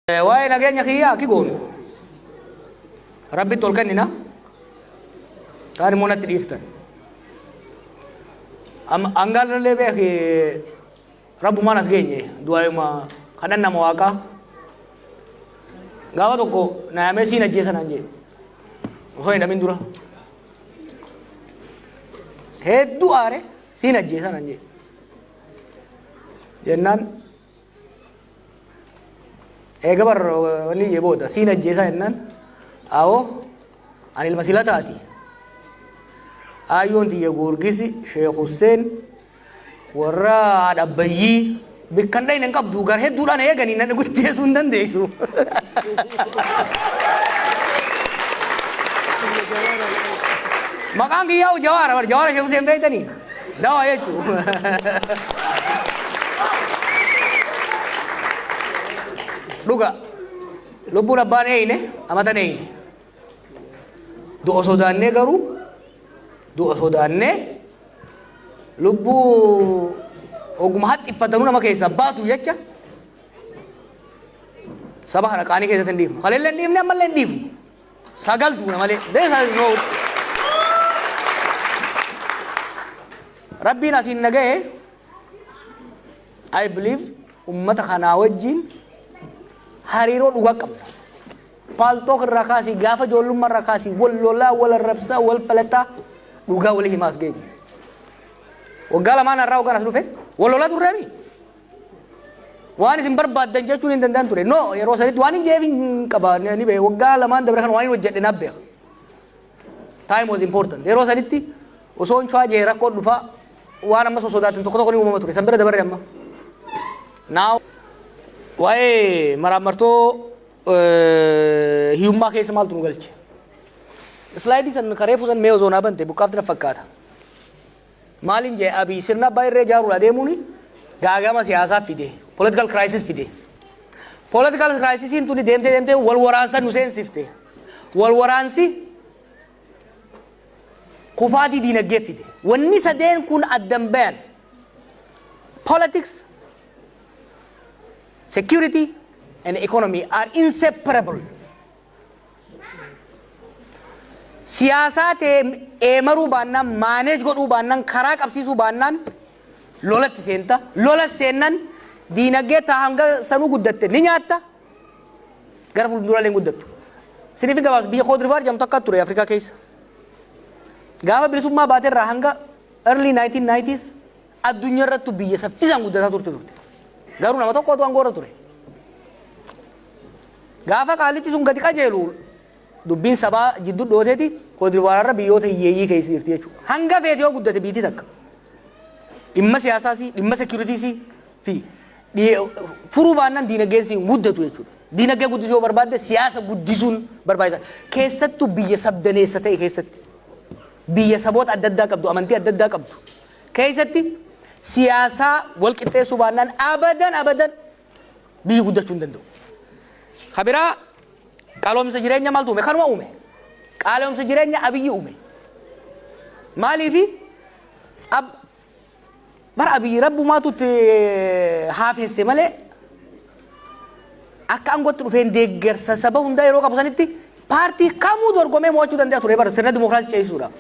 Waa'ee nageenya kiyyaa akki goonu rabbitti ol kennina kaan immoo natti dhiiftan. Angaalallee beeki rabbumaan as geenye du'aayuma kadhan nama waaqaa gaafa tokko naayamee siin ajjeesa naan jee osoo hin dhamin dura hedduu aare siin ajjeesa naan jee jennaan eega bar wanni jee booda siin ajjeesaa jennaan awoo ani ilma silataati aayyoon tiyya goorgisi sheekh husseen warra adhabbayyii bikkan dhayne hin qabdu gar hedduudhaan eeganii nan guddeessuu hin dandeessu maqaan kiyyaa'u jawaara bar jawaara sheekh husseen beektanii Dawaa jechuun. Dhuga lubbuun abbaan eeyne amatan eeyne. Du'a sodaannee garuu du'a sodaannee lubbuu oguma haxxiffatanuu nama keessaa baatu jecha saba kana qaanii keessatti hin dhiifnu. Kaleellee hin dhiifne ammallee hin dhiifnu. sagal duuna malee this is no rabbiin asiin na ga'e I believe ummata kanaa wajjin hariiroo dhugaa qabna. Paaltook irraa kaasii gaafa ijoollummaa irraa kaasii wal lolaa wal arrabsaa wal falataa dhugaa walii himaas geenye. Waggaa lamaan har'aa hogganas dhufe wal lolaa turreemi. Waan isin barbaaddan jechuun hin danda'an ture. No yeroo sanitti waan hin jeef hin qaba ni beeku. Waggaa lamaan dabre kan waan hin hojjedhe naaf beeka. Time was important. Yeroo sanitti osoo hin chwaa jee rakkoo dhufaa waan ammas osoo sodaatan tokko tokko ni uumama ture. San bira dabarre amma. Now waa'ee maraammartoo hiyyummaa keessa maaltu nu galche? Islaayidii san karee fuusan mee osoo naa bante buqqaafti na fakkaata. Maalin jee Abiy sirna abbaa irree jaaruudha deemuun gaagama siyaasaa fide. Political crisis fide. Political crisisiin tuni deemtee deemtee wal waraansa nu seensifte. Wal waraansi kufaatii diinagdee fide. Wanni sadeen kun addan bayan. Politics, security and economy are inseparable. siyaasaa ta'e eemaruu baannaan maaneej godhuu baannaan karaa qabsiisuu baannaan lolatti seenta lola seennan diinagdee taa hanga sanuu guddatte ni nyaatta gara fuulduraalee hin guddattu siniif hin gabaabsu biyya koodrivaar jedhamtu akka ture afrikaa keessa gaafa bilisummaa baate irraa hanga early 1990s addunyaa irrattu biyya saffisaan guddataa turte turte garuu nama tokko otoo aangoo irra ture Gaafa qaallichi sun gadi qajeelu dubbiin sabaa jiddu dhooteeti koodivaararra biyyoota hiyyeeyyii keessa jirti jechuudha. Hanga feeti yoo guddate biitii takka. Dhimma siyaasaasii, dhimma seekiyuritiisii fi furuu baannan diinaggeensii hin guddatu jechuudha. Diinaggee guddisuu yoo barbaadde siyaasa guddisuun barbaachisa. Keessattuu biyya sabdaneessa ta'e keessatti biyya saboota adda addaa qabdu, amantii adda addaa qabdu keessatti siyaasaa wal qixxeessuu baannaan abadan abadan biyyi guddachuu hin danda'u. Ka biraa qaloomsa jireenya maaltu uume? Kanuma uume. Qaalomsa jireenya abiyyi uume. Maaliifi ab bara abiyyi rabbumaatu itti haafeesse malee akka aangootti dhufeen deeggarsa saba hundaa yeroo qabu sanitti paartii kamuu dorgomee mo'achuu danda'a ture bara sirna dimookiraasii ceesisuudhaaf.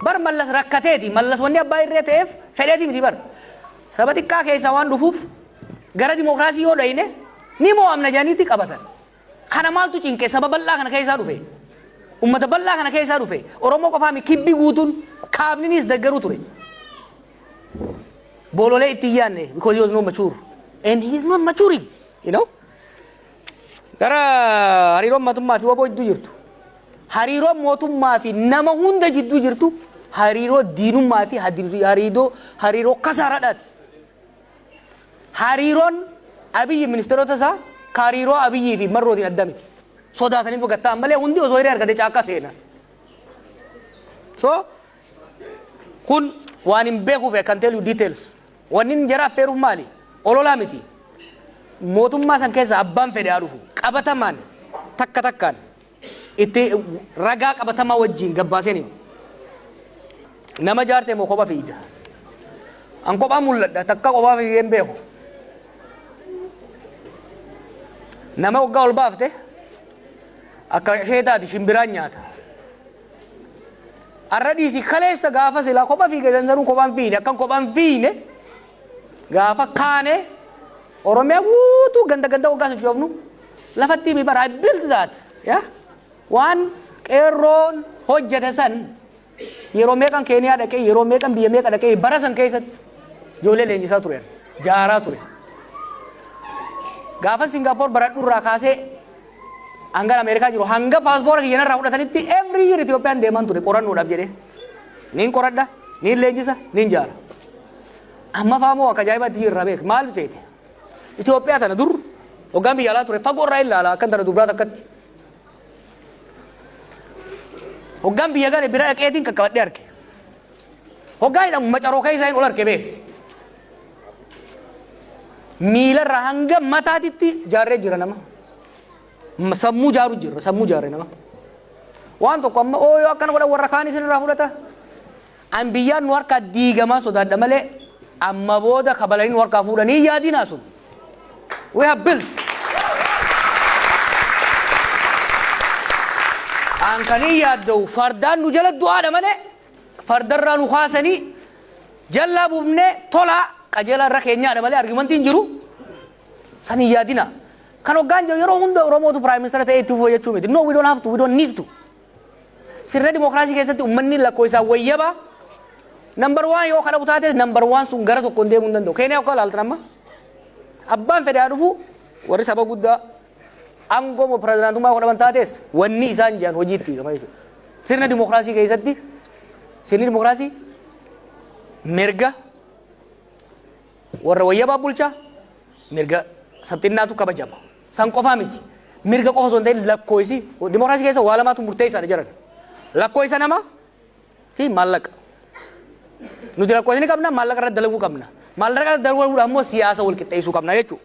Bar mallas rakkateeti mallas wanni abbaa irree ta'eef fedheeti miti bar. Saba xiqqaa keessaa waan dhufuuf gara dimokiraasii yoo dhayne ni moo'amna jedhaniitti qabatan. Kana maaltu cinqe saba bal'aa kana keessaa dhufe. Uummata bal'aa kana keessaa dhufe. Oromoo qofaa miti kibbi guutuun kaabninis deggeruu ture. Boololee itti hin yaadne because he was not mature and he is not maturing you know. Gara hariiroon mootummaa fi waboo jidduu jirtu. Hariiroon mootummaa fi nama hunda jidduu jirtu hariiroo diinummaa fi hariiroo hariiroo kasaaraadhaati. Hariiroon Abiyyi ministeerota isaa ka hariiroo Abiyyii fi Marrootiin adda miti. Sodaatanii dhuga ta'an malee hundi osoo hiree argate caakkaa seena. So kun waan hin beekuuf I can tell you details. Wanni inni jara affeeruuf maali? Ololaa miti. Mootummaa san keessa abbaan fedhe haa dhufu. Qabatamaan takka takkaan itti ragaa qabatamaa wajjiin gabbaaseen hima. Nama jaarte moo kopha fiigda? An kophaa mul'adha takka kophaa fiigeen beeku. Nama waggaa ol baafte akka ishee taati shimbiraan nyaata. Arra dhiisi kaleessa gaafa silaa kopha fiige sansanuu kophaan fiine akkan kophaan fiine gaafa kaane Oromiyaa guutuu ganda ganda waggaa sochoofnu lafattii mi bara I built that yeah? waan qeerroon hojjete san yeroo meeqan keeniyaa dhaqee yeroo meeqan biyya meeqa dhaqee bara san keessatti ijoollee leenjisaa turean jaaraa ture gaafan singaapoor baradhurraa kaasee hangan ameerikaa jiru hanga paaspoora kiyyan irraa fudhatanitti every year Itoophiyaan deeman ture qorannoodhaaf jedhee niin qoradha niin leenjisa niin jaara Amma faamoo akka ajaa'ibaatti biyya irraa beeka. Maal seete? Itoophiyaa tana dur hoggaan biyya alaa ture fagoo irraa ilaala akkan tana dubraa takkatti. Hoggaan biyya gale bira dhaqeetiin qaqqabadhee arge. Hoggaan jedhamu macaroo keessaa hin ol arge bee. Miilarraa hanga mataatitti jaarree jira nama. M- Sammuu jaaru jira sammuu jaarree nama. Waan tokko amma ooyoo akkana godhan warra kaan isin irraa fudhata. An biyyaan nu harkaa diigamaa sodaadha malee amma booda kabalanii nu harkaa fuudhanii hin yaadinaa sun. We have built. An kan hin yaadda'u fardaan nu jala du'aadha malee fardarraa nu kaasanii jallaa buufnee tolaa qajeelaa irra keenyaadha malee argumentii hin jiru. San hin yaadinaa. Kan hoggaan jiru yeroo hunda Oromootu Prime Minister ta'ee itti fufuu jechuu miti. No, we don't have to, we don't need to. Sirna dimookiraasii keessatti ummanni lakkoofsaan wayyaba nambar waan yoo kadhabu taates nambar waan sun gara tokkoon deemuu hin danda'u. Keeniyaa akka ilaaltan amma abbaan fedhaa dhufu warri saba guddaa aangoo moo pirezidaantummaa yoo dhaban taates wanni isaan jiran hojiitti hiikama jechuudha. Sirna dimookiraasii keessatti sirni dimookiraasii mirga warra wayyabaa bulchaa mirga sabxinnaatu kabajama. San qofaa miti. Mirga qofa osoo hin ta'in lakkooysi dimokiraasii keessa waa lamaatu murteessaadha jedhan. Lakkooysa nama fi maallaqa. Nuti lakkooysa ni qabna maallaqa irratti dalaguu qabna. Maallaqa irratti dalaguudhaan immoo siyaasa wal qixxeessuu qabna jechuudha.